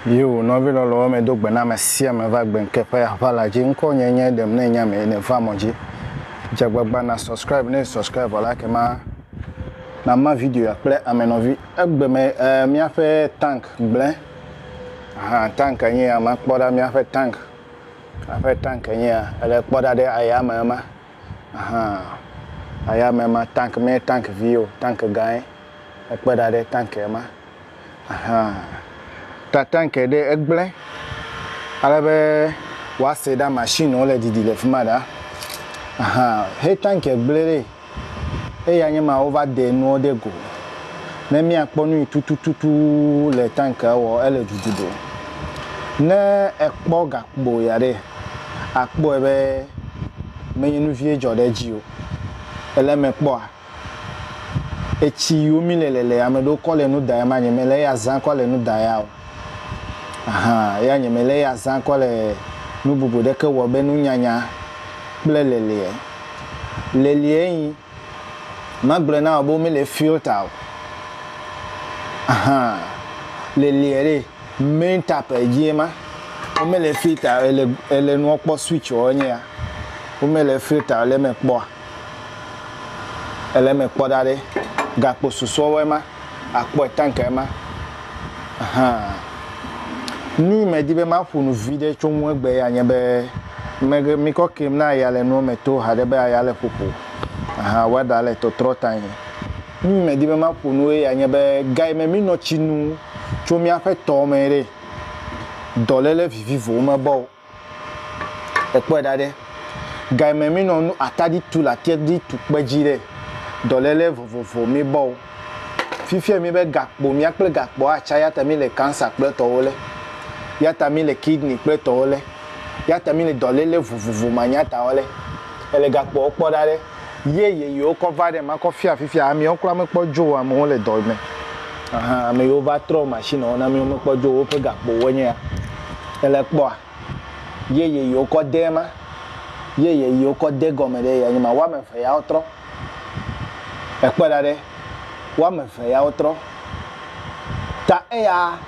Yo, nɔvi lɔlɔwo me do gbe na ame sia ame va gbe nke ƒe aʋala dzi. Ŋkɔ nye nye ɖem ne nya me ne va mɔ dzi. Dze agbagba na subscribe ne subscribe la ke ma na ma video ya kple ame nɔvi. Egbe me eh, míaƒe tank gblẽ. Aha, tank nye ya ma kpɔ ɖa míaƒe tank. Kaa ƒe tank enye ya. Ele kpɔ ɖa ɖe ayame ema. Ahan. Ayame ema. Tank menye tank vi o. Tank gãe. Ekpe ɖa ɖe tank ema. Ahan. Ta tank ɖe egblẽ ale be woase ɖa mashini wole didi le fi ma ɖaa. Ahan. He tank gblẽ ɖee. Eya nye ma wova de nuwo ɖe go. Ne míakpɔ nu yi tutututu le tankea wɔ ele dudu ɖo. Ne ekpɔ gakpo ya ɖe, akpɔe be menye nu vie dzɔ ɖe edzi o. Ele eme kpɔa, etsi yiwo mí le le le ame ɖewo kɔ le nu da ya manye mele eya zã kɔ le nu da ya o. Ahan, eya nye mele eya zã kɔ le nu bubu ɖeke wɔ be nunyanya kple leliɛ. Leliɛ nyi, magblɔe na wò be womele filter o. Ahan, leliɛ ɖe, main tap edzie ma. Womele filter o, ele, ele nuɔ kpɔ switch ɔ enye ya. Womele filter o le eme kpɔa. Èle eme kpɔ ɖa ɖe gakpo susɔewɔe ma akpɔe tank ema ahan. Nuyi medi be maƒo nu viɖe tso ŋu egbea ya nye be meghe mikɔ keŋ na aya le nuwo me to haɖe be aya le ƒoƒo ahan weather le tɔtrɔ tanyi. Nuyi medi be maƒo nu eya nye be ga yi me minɔ tsi nu tso miaƒe tɔ me ɖe dɔlele vivivo mebɔ o. Ekpɔe ɖa ɖe, ga yi me mi nɔ nu atadi tu le atadi tu kpe dzi ɖe, dɔlele vovovo mi bɔ o. Fifia mi be gakpo mia kple gakpo a tsa yata mi le cancer kple tɔwo le, yata mi le kidney kple tɔwo le, yata mi le dɔlele vovovo ma nyata wo le. Ele gakpoawo kpɔ ɖa ɖe. ye yeyewo kɔ va ɖem akɔ fia fifia amewo kura mekpɔ dzo o amewo le dɔ me ahan ame yiwo va trɔ machine wo na amewo mekpɔ dzo o woƒe gakpowo nye ya ele kpɔa ye yeyewo kɔ de ema ye yeyewo kɔ de gɔme ɖe ya nye ma woame eve yawo trɔ ekpɔ ɖa ɖe woame eve yawo trɔ ta eya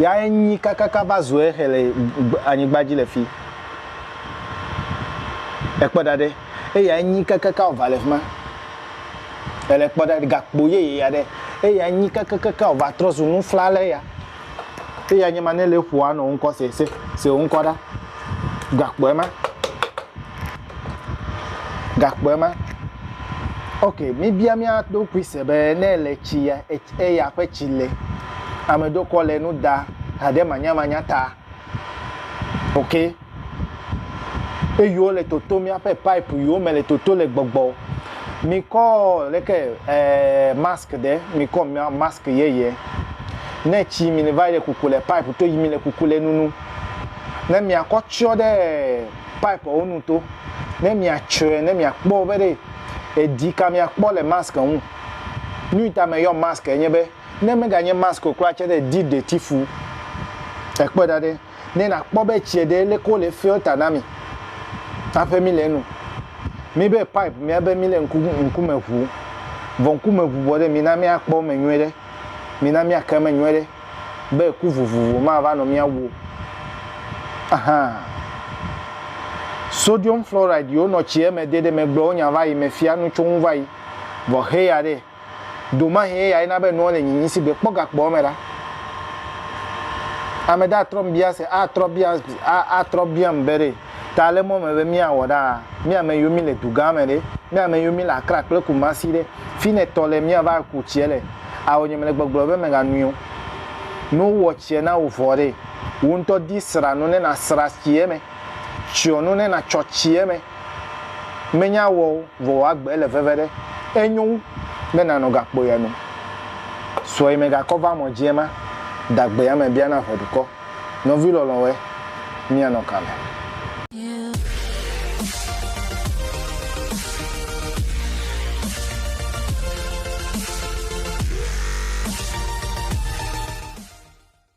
ya enyi kakaka va zu ehe le anyigba dzi le fi ekpɔ ɖa ɖe. Eya nyi kakaka ɔva le fima. Ele kpɔ ɖa gakpo yeye ya ɖe. Eya nyi kakaka ɔva trɔ zu nufla le ya. Eya nye ma ne le ƒoa nɔ ŋkɔ se se se ŋkɔ ɖa. Gakpo ema. Gakpo ema. Ok, mi bia mia do kui se be ne le tsi ya eya ƒe tsi le. Ame ɖokɔ le nu da ha ɖe manya manya ta. ok eyiwo le toto míaƒe pipe yiwo me le toto le gbɔgbɔ mikɔ leke eh, mask ɖe mikɔ mask yeye ne tsi mi va yi le kuku le pipe to yi mi le kuku le nunu ne miakɔ tsyɔ ɖe pipe wo nu to ne miatsyɔe ne miakpɔ be ɖe edi ka miakpɔ le mask ŋu nu ta me yɔ mask enye be Ne meganye mask o kura tse ɖe di ɖeti fu ekpɔe ɖa ɖe ne na kpɔ be tsie ɖe leke wo le filter na mi aƒe mi le enu mi be pipe mia be mi le ŋku ŋkume ŋu vɔ ŋkume ŋu vɔ ɖe mi na mia kpɔ me nyuiɖe mi na mia ke me nyuiɖe be ku vovovo ma va nɔ mia wuo ahan sodium fluoride yi wo nɔ tsie me de ɖe me gblɔ wo nya va yi me fia nu tso ŋu va yi vɔ heya ɖe. Do mahe eyae na be nua le nyi nyi si gbe kpɔ gakpɔ eme ɖa. Ame ɖe atrɔ m bia se, atrɔ bia, a, atrɔ bia m be ɖe ta le mɔ me be mia wɔ ɖaa? Mi ame yiwo mi le duga me ɖe? Mi ame yiwo mi le Accra kple Kumasi ɖe? Fi ne tɔ le mia va ku tsiɛ le? Ao nye me le gbɔgblɔ be mega nui o. Ne wo wɔ tsiɛ na wo vɔ ɖe? Wo ŋutɔ di sra nu ne na sra tsiɛ me. Tsyɔ nu ne na tsyɔ tsiɛ me. Menya wɔ o, vɔ wò agbe le veve ɖe. Enyo wu be nànɔ gakpo ya nu. Sɔe megakɔ va mɔ dzi ema, dagbe ya me bia na ʋe dukɔ. Nɔvi lɔlɔ̃wɔe, míanɔ ka me?